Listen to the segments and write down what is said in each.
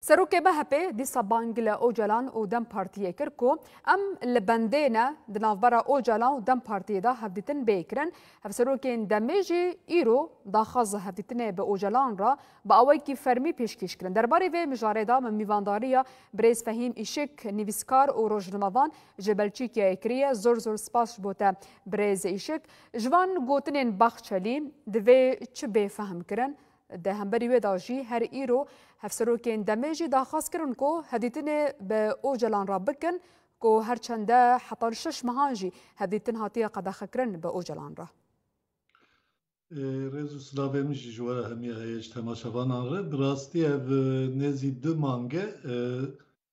Serokê MHP'ê dîsa bang li Ocalan û dem Partiyê kir ku em li bendê ne, di navbera Ocalan û dem Partiyê de hevdîtin bê kirin. Hevserokên demê jî îro daxwaza hevdîtinê bi Ocalan re bi awayekî fermî pêşkêş kirin. Derbarê vê mijarê de min mîvandariya birêz Fehîm Îşik, nivîskar û rojnamevan ji Belçîkiyayê kiriye. Zor zor spas ji bo te birêz Îşik. Ji van gotinên Baxçelî divê çi bê fehmkirin? Di hemberî wê de jî her îro hevserokên demê jî daxwaz kirin ku hevdîtinê bi Ocalan re bikin ku her çende heta li şeş mehan jî hevdîtin hatiye qedexekirin bi Ocalan re. Rêz û silavên min jî ji we re hemî heye ji temaşevanan re. Bi rastî ev nêzî du mang e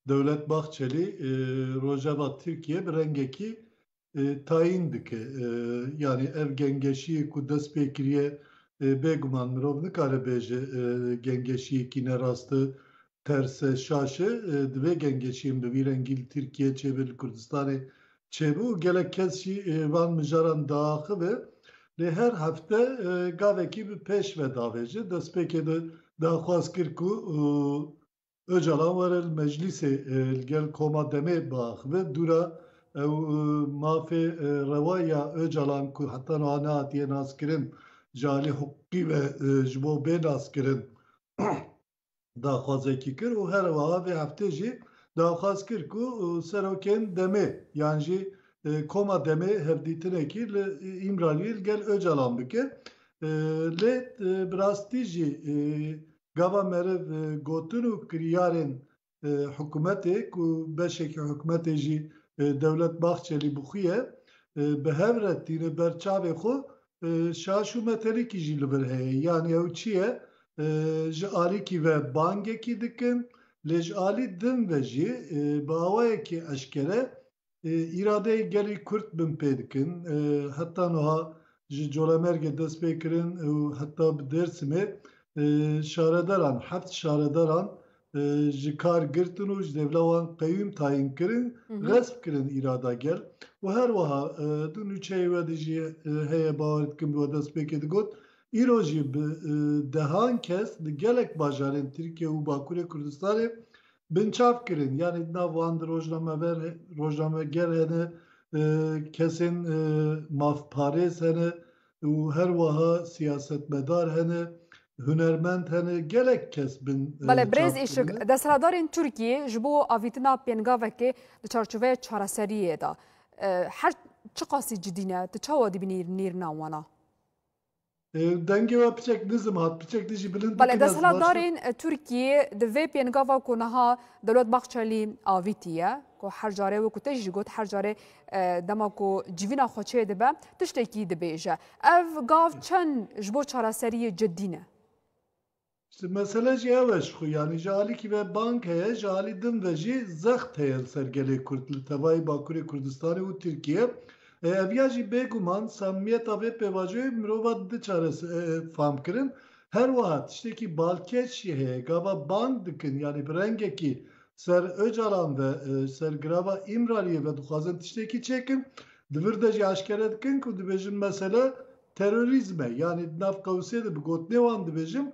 Dewlet Bahçelî rojeva Tirkiyê bi rengekî tayîn dike. Yanî ev gengeşiyê ku dest pê kiriye bêguman mirov nikare bêje gengeşiyekî ne rast e, ters e, şaş e. Divê gengeşiyên bi vî rengî li Tirkiyê çêbe, li Kurdistanê çêbe û gelek kes jî van mijaran diaxive. Lê her hefte gavekî bi pêş ve davêje. Destpêkê de daxwaz kir ku Ocalan were li meclîsê li gel koma DEM'ê biaxive dû re. Ew mafê rewa ya Ocalan ku heta niha nehatiye naskirin ji alî hiqûqî ve ji bo bê naskirin daxwazekî kir û here wiha vê heftê jî daxwaz kir ku serokên DEM'ê yan jî koma DEM'ê hevdîtinekî li Îmraliyê li gel Ocalan bike. Lê bi rastî jî gava meriv gotin û kiryarên hikûmetê ku beşekî hikûmetê jî Dewlet Bahçelî bi xwe ye bi hev re tîne ber çavê xwe şaş û metelîkî jî li vir heye. Yanî ew çi ye? Ji alîkî ve bangekî dikin lê ji alî din ve jî bi awayekî eşkere îradeyê gelê Kurd bin pê dikin. Heta niha ji Colemêrgê dest pê kirin û heta bi Dêrsimê şaredaran heft şaredaran ji kar girtin û ji dêvla wan qeyûm tayîn kirin, xesp kirin îrada gel û her wiha du nûçeyê we de jî heye bawer dikim we dest pêkê digot îro jî bi dehan kes li gelek bajarên Tirkiye û Bakurê Kurdistanê binçav kirin. Yanî di nav wan de rojnamever, rojnameger hene, kesên mafparêz hene û her wiha siyasetmedar hene, hunermend hene, gelek kes bin çav kirin. Belê birêz Îşik, desthilatdarên Tirkiyê ji bo avîtina pêngavekê di çarçoveya çareseriyê de her çiqasî cidî ne, tu çawa dibînî nêrîna wan a? Dengê we piçek nizm hat, piçek te jî bilind Bale desthilatdarên Tirkiyê di vê pêngava ku niha Dewlet Bahçelî avîtiye ku her carê wekû te jî got her carê dema ku civîna xwe çê dibe tiştekî dibêje. Ev gav çend ji bo çareseriyê cidî ne? Ji mesele jî ew e ji xwe yanî ji alîkî ve bang heye, ji alî din ve jî zext heye li ser gelê Kurd li tevayê Bakurê Kurdistanê û Tirkiyê. Ev ya jî bê guman samimiyeta vê pêvajoyê mirova dide çares famkirin. Her wiha tiştekî balkêş jî heye, gava bang dikin yanî bi rengekî ser Ocalan ve, ji ser girava Îmraliyê ve dixwazin tiştekî çêkin, di vir de jî eşkere dikin ku dibêjin mesele terorîzm e. Yanî di nav qewsê de bi gotinê wan dibêjim,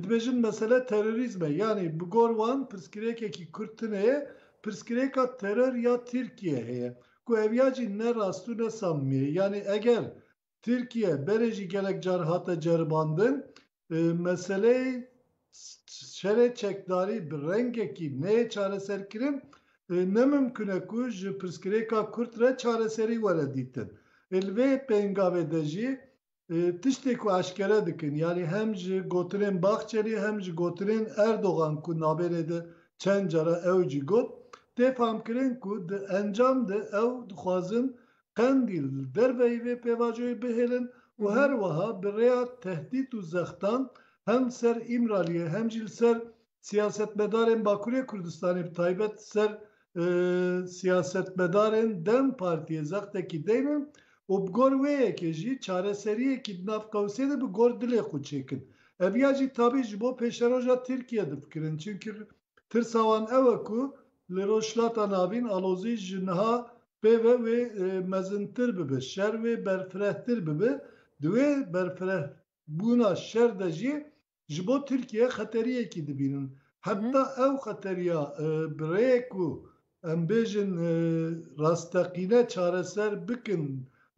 dibêjin mesele terorîzm e. Yanî bi gor wan pirsgirêkekî Kurd tune ye, pirsgirêka teror ya Tirkiye heye ku ev ya jî ne rast û ne samimî ye. Yanî eger Tirkiye berê jî gelek car hate ceribandin, meseleyê şerê çekdarî bi rengekî neyê çareserkirin, ne mimkun e ku ji pirsgirêka kurt re çareserî were dîtin. Ê li vê pêngavê de jî tiştê ku eşkere dikin, yanî hem ji gotinên Bahçelî hem ji gotinên Erdogan ku navênê de çend cara ew jî got, tê famkirin ku di encam de ew dixwazin Qendîl li derveyî vê pêvajoyê bihêlin û her wiha bi rêya tehdît û zextan hem li ser Îmraliyê hem jî li ser siyasetmedarên Bakurê Kurdistanê bi taybet li ser siyasetmedarên dem Partiyê zextekî deynin û bi gor wê yekê jî çareseriyekî di nav qewsê de bi gor dilê xwe çêkin. Ev ya jî tabî ji bo pêşeroja Tirkiye difikirin çimkî Tirsa wan ew e ku li Rojhilata Navîn alozî ji niha pê ve wê mezintir bibe, şer wê berfirehtir bibe. Di wê berfirehbûna şer de jî ji bo Tirkiye xeteriyekî dibînin. Heta ew xeteriya bi rêyek ku Em bêjin rasteqîne çareser bikin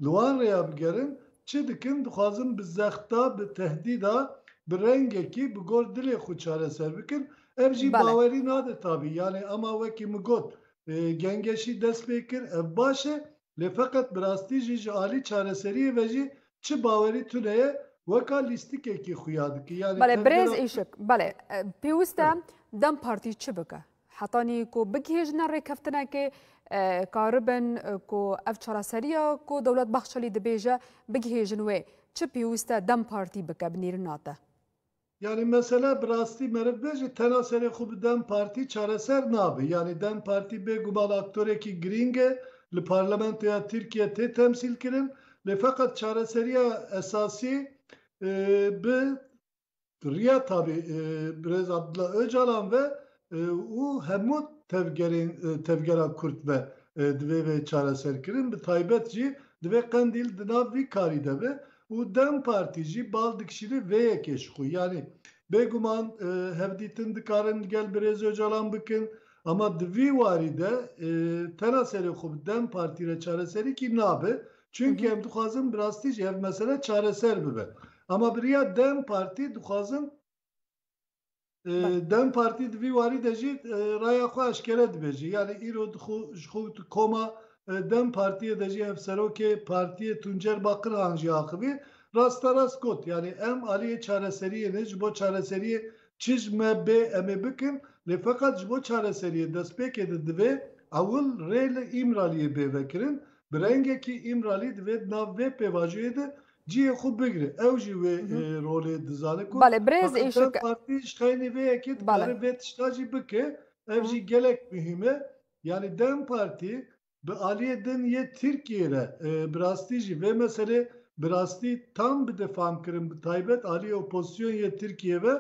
li wan rêya bigerin, çi dikin dixwazin bi zexta bi tehdîda bi rengekî bi gor dilê xwe çareser bikin ev jî bawerî nade tabî yanê ema wekî min got gengeşî dest pê kir ev baş e lê feqet bi rastî jî ji alî çareseriyê ve jî çi bawerî tune ye weka lîstikekî xuya dike yanê Belê birêz Îşik belê pêwist e dem partî çi bike? Hetanî ku bigihêjine rêkeftinekê karibin ku ev çareseriya ku Dewlet Bahçelî dibêje bigihêjin wê çi pêwîst e dem Partî bike binêrina te? Yanî mesele bi rastî meriv be jî tena serê xwe bi dem Partî çareser nabe. Yanî dem Partî bê guman aktorekî girîng e, li parlamentoya Tirkiyê tê temsîlkirin lê feqet çareseriya esasî bi Di riya tabî Birêz Abdullah Ocalan ve û hemû tevgerên tevgera Kurd ve divê vê çareserkirin, bi taybet jî divê Qendîl di nav vî karî de be û dem Partî jî bal dikişîri vê yekê ji xwe. Yanî bêguman hevdîtin dikarin li gel Birêz Ocalan bikin ama di vî warî de tena serê xwe bi dem Partî re çareserîkî nabe Çunki em dixwazin bi rastî jî ev mesele çareser bibe. Ama bi riya dem partî dixwazin dem partî di vî warî de jî raya xwe eşkere dibêje. Yanî îro ji xwe tu koma dem partiyê de jî ev serokê partiyê Tuncer Bakirhan jî axivî rasterast got, yanî em aliyê çareseriyê ne ji bo çareseriyê çij me bê em ê bikin lê feqet ji bo çareseriyê destpêkê de divê ewil rê li Îmraliyê bê vekirin Bi rengekî Îmralî divê di nav vê pêvajoyê de cihê xwe bigire. Ew jî wê rolê dizane ku Heqîqet Partî ji xeynî vê yekê dikare vê tişta jî bike. Ev jî gelek muhîm e. Yanî dem Partî bi aliyê din yê Tirkiyeyê re bi rastî jî vê meselê bi rastî tam bide famkirin bi taybet aliyê opozîsyon yê Tirkiyeyê ve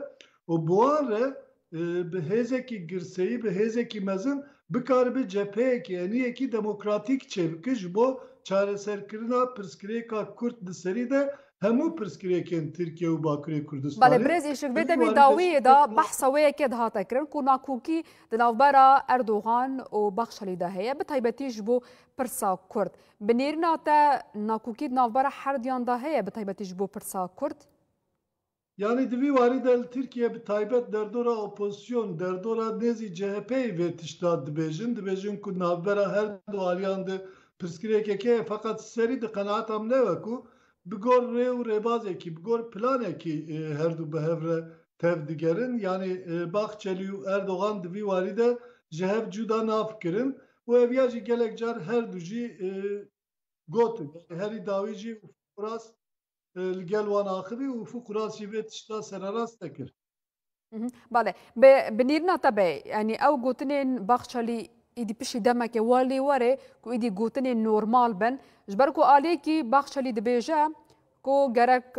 û bi wan re bi hêzekî girseyî, bi hêzekî mezin bikaribe cepheyekî, eniyekî demokratîk çêbike ji bo çareserkirina pirsgirêka kurd di serî de hemû pirsgirêkên Tirkiye û Bakurê Kurdistanê. Belê birêz Îşikbê demê dawiyê de behsa wê yekê dihate kirin ku nakokî di navbera Erdogan û Baxşelî de heye bi taybetî ji bo pirsa kurd. Bi nêrîna te nakokî di navbera herduyan de heye bi taybetî ji bo pirsa kurd? Yanî di vî warî de li Tirkiye bi taybet derdora opozîsyon, derdora nêzî CHP'yê vê tişta dibêjin, dibêjin ku navbera her du aliyan de pirsgirêkek heye feqet serî di qenaata min ew e ku bi gor rê û rêbazekî, bi gor planekî her du bi hev re tev digerin. Yanî Bahçelî û Erdogan di vî warî de ji hev cuda nafikirin û ev ya jî gelek car her du jî Gotin, yanî herî dawî jî Ufuk Uras li gel wan axivî û Ufuk Uras jî vê tişta sererast nekir. Bale, bi binîrina te be, yanî ew gotinên Baxçelî îdî piştî demekê wa lê were ku îdî gotinên normal bin, ji ber ku aliyekî Baxçelî dibêje Ku gerek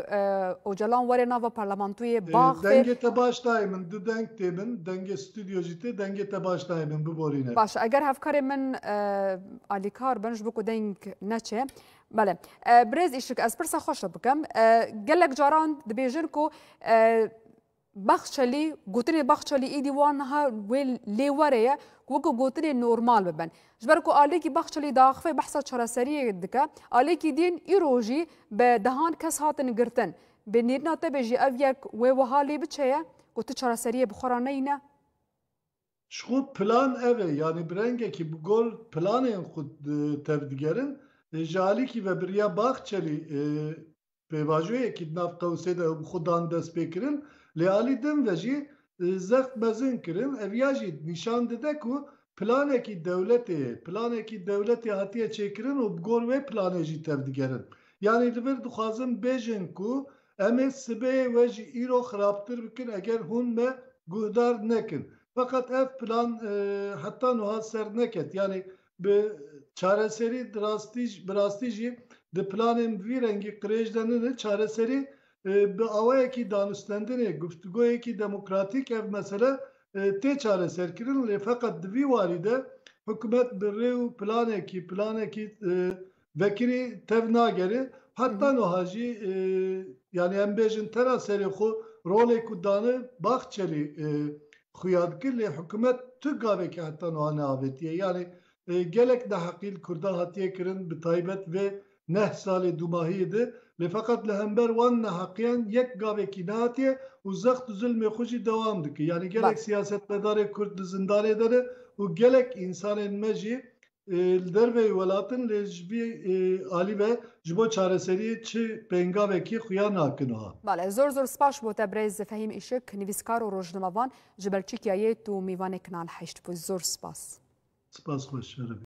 Ocalan were nava parlamantoyê bax fê. Dengê te baş dayê min, du deng tê bin, dengê stûdyo jî tê, dengê te baş dayê min, biborîne. Baş e, eger hevkarê min alîkar bin ji bo ku deng neçe. Bele. Birêz Îşik, ez pirsa xwe şo bikim. Gelek caran dibêjin ku Baxçelî, gotinên Baxçelî êdî wan niha wê lê were ye ku weke gotinên normal bibin. Ji ber ku aliyekî Baxçelî diaxive behsa çareseriyê dike, aliyekî din îro jî bi dehan kes hatin girtin. Bi nêrîna te be jî ev yek wê wiha lê biçe ye ku tu çareseriyê bi xwe re neyîne? Ji xwe plan ev e, yanî bi rengekî bi gor planên xwe tevdigerin. Ji aliyekî ve biriya Baxçelî pêvajoyekî di nav Qewsê de bi xwe dan destpêkirin lê alî din ve jî zext mezin kirin. Ev ya jî nîşan dide ku planekî dewletê ye. Planekî dewletê hatiye çêkirin û bi gor wê planê jî tevdigerin. Yanî li vir dixwazin bêjin ku em ê sibeyê we jî îro xirabtir bikin eger hûn me guhdar nekin. Feqet ev plan heta nuha ser neket. Yanî bi çareserî bi rastî jî di planên bi vî rengî qirêj de nine çareserî bi awayekî danûstendinê guftûgoyekî demokratîk ev mesele tê çareserkirin lê feqet di vî warî de hikûmet bi rê û planekî planekî Vekirî tev nagere heta nuha jî yanî em bêjin tera serê xwe rolê ku dane Bahçelî xuya dike lê hikumet tu gavekî heta nuha neavêtiye yanî gelek neheqî li kurdan hatiye kirin bi taybet vê neh salê dûmahiyê de lê feqet li hember wan neheqiyan yek gavekî nehatiye û zext û zilmê xwe jî dewam dike yanî gelek siyasetmedarê kurd li zindanê de ne û gelek însanên me jî li derveyî welatin lê ji vî alî ve ji bo çareseriyê çi pêngavekî xuya nakin ha. Bale zor zor spaş bo te brez Fehîm Îşik nivîskar û rojnamevan ji Belçîkya yê tu mîvanêk nalhişt bû zor spas. Spas xweş.